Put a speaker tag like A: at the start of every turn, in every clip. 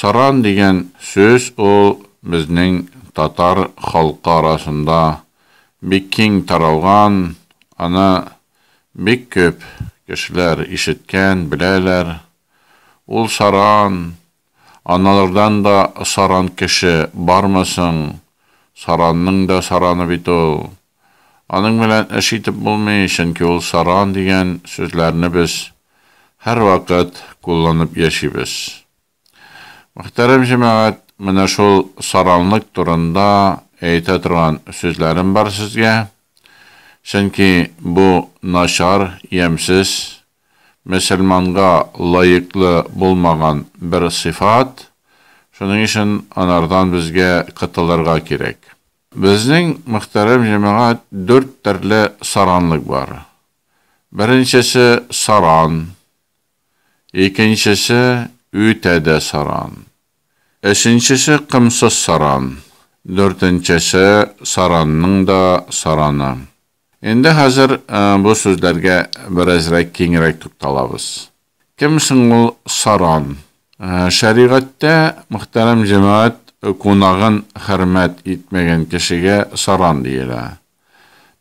A: Саран дигән сүз ул безнең татар халкы арасында бик киң таралган, аны бик күп кешеләр ишеткән, беләләр. Ул саран, аналардан да саран кеше бармы соң? Саранның да сараны бит ул. Аның белән эш итеп булмый, чөнки ул саран дигән сүзләрне без һәрвакыт кулланып яшибез. Мөхтәрәм җәмәгать, менә шул саранлык турында әйтә торган сүзләрем бар сезгә, чөнки бу начар, ямьсез, мөселманга лаеклы булмаган бер сыйфат, шуның өчен анардан безгә котылырга кирәк. Безнең, мөхтәрәм җәмәгать, дүрт төрле саранлык бар. Беренчесе, саран. Икенчесе, үтә дә саран. Өченчесе, комсыз саран. Дүртенчесе, саранның да сараны. Инде хәзер бу сүзләргә беразрәк киңрәк тукталабыз. Кем соң ул Саран? Шәригатьтә мөхтәрәм җәмәгать кунагын хөрмәт итмәгән кешегә саран диелә.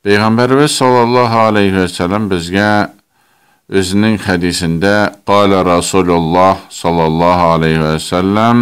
A: Пәйгамбәребез саллаллаһу аләйһи вә сәлам безгә Үзенең хәдисендә, Калә Расулуллаһ саллаллаһу аләйһи вә сәлам,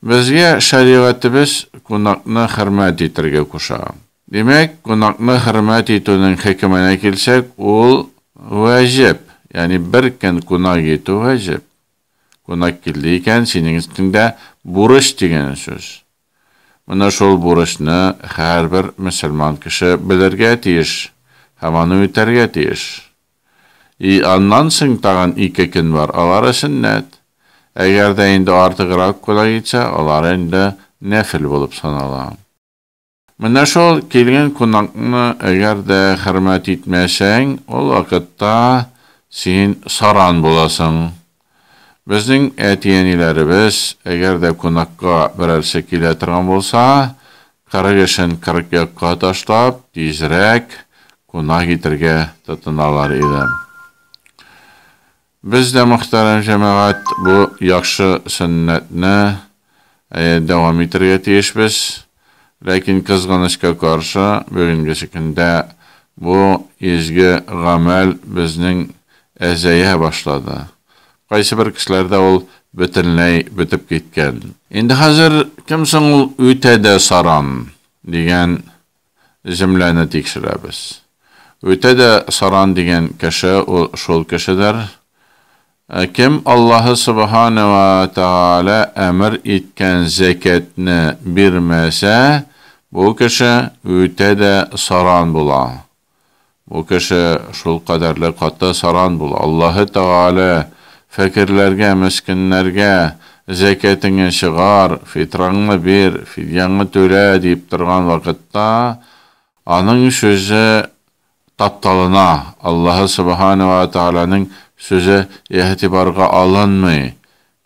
A: Безгә шәригатебез кунакны хөрмәт итәргә куша. Димәк, кунакны хөрмәт итүнең хөкеменә килсәк, ул вәҗеп, ягъни бер көн кунак итү вәҗеп. Кунак килде икән, синең өстеңдә бурыч дигән сүз. Менә шул бурычны һәрбер мөселман кеше белергә тиеш һәм аны үтәргә тиеш. И аннан соң тагын ике көн бар, алары сөннәт. Әгәр дә инде артыграк кына китсә, алар инде нәфел булып санала. Менә шул килгән кунакны әгәр дә хөрмәт итмәсәң, ул вакытта син саран буласың, Безнең әти-әниләребез, әгәр дә кунакка берәрсе килә торган булса, кырык эшен кырык якка ташлап, тизрәк кунак итәргә тотыналар иде. Без дә, мөхтәрәм җәмәгать, бу яхшы сөннәтне Әйе, дәвам итәргә тиешбез. Ләкин, кызганычка каршы, бүгенгесе көндә бу изге гамәл безнең әзәя башлады. Кайсыбер кешеләрдә ул бөтенләй бетеп киткән. Инде хәзер кем соң ул үтә дә саран? дигән. земляны тикшерәбез. Үтә дә саран дигән кеше ул шул кешедер. Ә кем Аллаһы Сөбханә вә Тәгалә әмер иткән зәкятне бирмәсә, бу кеше үтә дә саран була. Бу кеше шул кадәрле каты саран бул, Аллаһы Тәгалә, фәкерләргә, мескеннәргә, зәкятеңне чыгар, фитраңны бир, фидьяңны түлә, диеп торган вакытта, аның сүзе тапталына, Аллаһы Сөбхәнә вә Тәгаләнең сүзе игътибарга алынмый,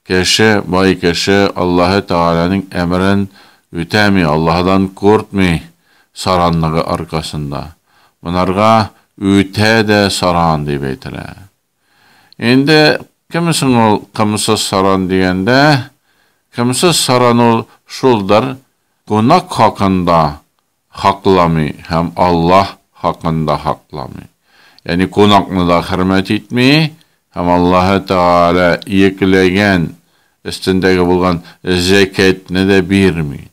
A: Кеше, бай кеше, Аллаһы Тәгаләнең әмерен үтәми, Аллаһыдан куртмый, саранлыгы аркасында. Монарга үтә дә саран дип әйтелә. Инде кем соң ул кымсыз саран дигәндә, кымсыз саран ул шулдыр, кунак хакында хакламый һәм Аллаһ хакын да хакламый. Ягъни кунакны да хөрмәт итми һәм Аллаһы Тәгалә йөкләгән, өстендәге булган зәкятьне дә бирми.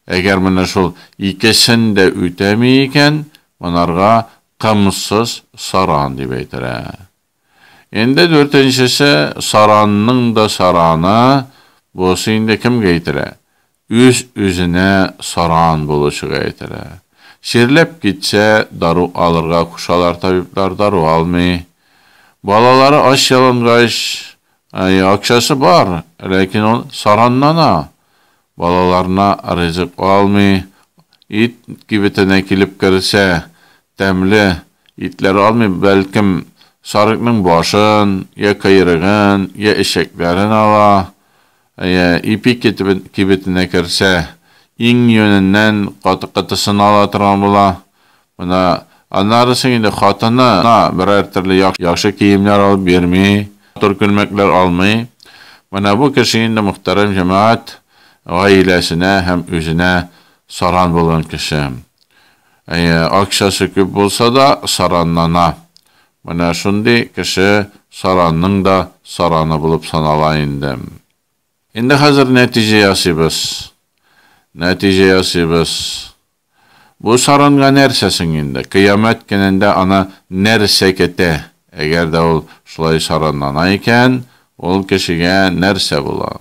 A: Әгәр менә шул икесен дә үтәми икән, монарга кымсыз саран дип әйтелә. Инде дүртенчесе саранның да сараны, бусы инде кемгә итәрә? Үз-үзенә саран булучыга итәрә. Чирләп китсә, дару алырга кушалар табиблар, дару алмый. Балалары ач-ялангач, әйе, акчасы бар, ләкин ул сараннана. Балаларына ризык алмый, ит кибетенә килеп керсә, тәмле итләр алмый, бәлкем, сарыкның башын, йә койрыгын, йә эчәкләрен ала, йә ипи кибетенә керсә, иң йоненнән каты-катысын ала торган була. Менә аннары соң инде хатыны на берәр төрле яхшы киемнәр алып бирми, матур күлмәкләр алмый. Менә бу кеше инде мөхтәрәм җәмәгать гаиләсенә һәм үзенә саран булган кеше. Әйе, акчасы күп булса да, саранлана. Менә шундый кеше саранның да сараны булып санала инде. Инде хәзер нәтиҗә ясыйбыз. Нәтиҗә ясыйбыз. Бу саранга нәрсә соң инде? Кыямәт көнендә аны нәрсә көтә? Әгәр дә ул шулай саранлана икән, ул кешегә нәрсә була?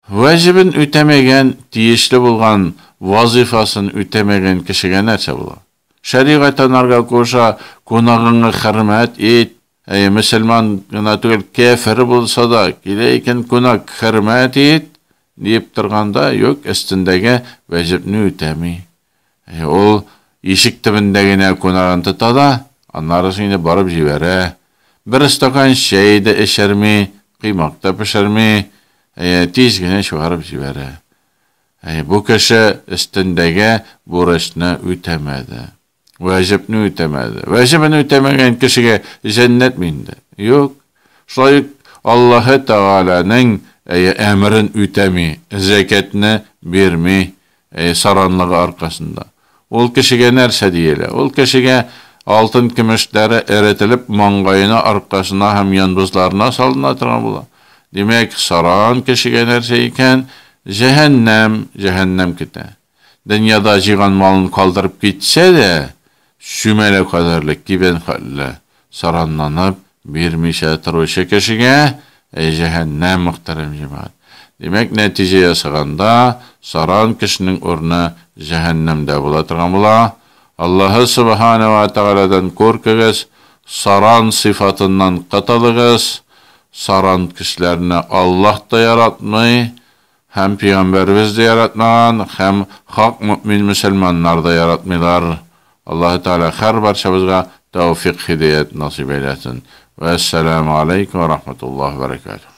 A: Вәҗебен үтәмәгән, тиешле булган вазыйфасын үтәмәгән кешегә нәрсә була? Шәригать анарга куша, Кунагыңа хөрмәт ит, Әйе, мөселман гына түгел, кяфер булса да, килә икән кунак, хөрмәт ит! диеп торганда, юк, өстендәге вәҗепне үтәми. Әйе, ул ишек төбендә генә кунагын тота да, аннары соң инде барып җибәрә. Бер стакан чәй дә эчерми, коймак та пешерми, әйе, тиз генә чыгарып җибәрә. Әйе, бу кеше өстендәге бурычны үтәмәде. Вәҗебне үтәмәде. Вәҗебен үтәмәгән кешегә җәннәт ме инде? Юк. Шулай ук Аллаһы Тәгаләнең әмерен үтәми, зәкятны бирми, саранлыгы аркасында. Ул кешегә нәрсә диелә? Ул кешегә алтын-көмешләре эретелеп, маңгаена, аркасына һәм янбызларына салына торган була. Димәк, саран кешегә нәрсә икән? Җәһәннәм, җәһәннәм көтә. Дөньяда җыйган малын калдырып китсә дә, чүмәлә кадәрле кибән хәтле саранланып бирмичә торучы кешегә, әй җәһәннәм, мөхтәрәм җәмәгать! Димәк, нәтиҗә ясаганда, саран кешенең урыны җәһәннәмдә була торган була. Аллаһы Сөбханә вә Тәгаләдән куркыгыз, саран сыйфатыннан котылыгыз. Саран кешеләрне Аллаһ та яратмый, Һәм пигамбәребез дә яратмаган, һәм хак мөэмин мөселманнар да яратмыйлар. Аллаһы Тәгалә хәр барчабызга тәүфикъ-һидәят насыйп әйләсен. Вә әссәламү аләйкүм вә рахматуллаһи вә бәрәкәтүһ.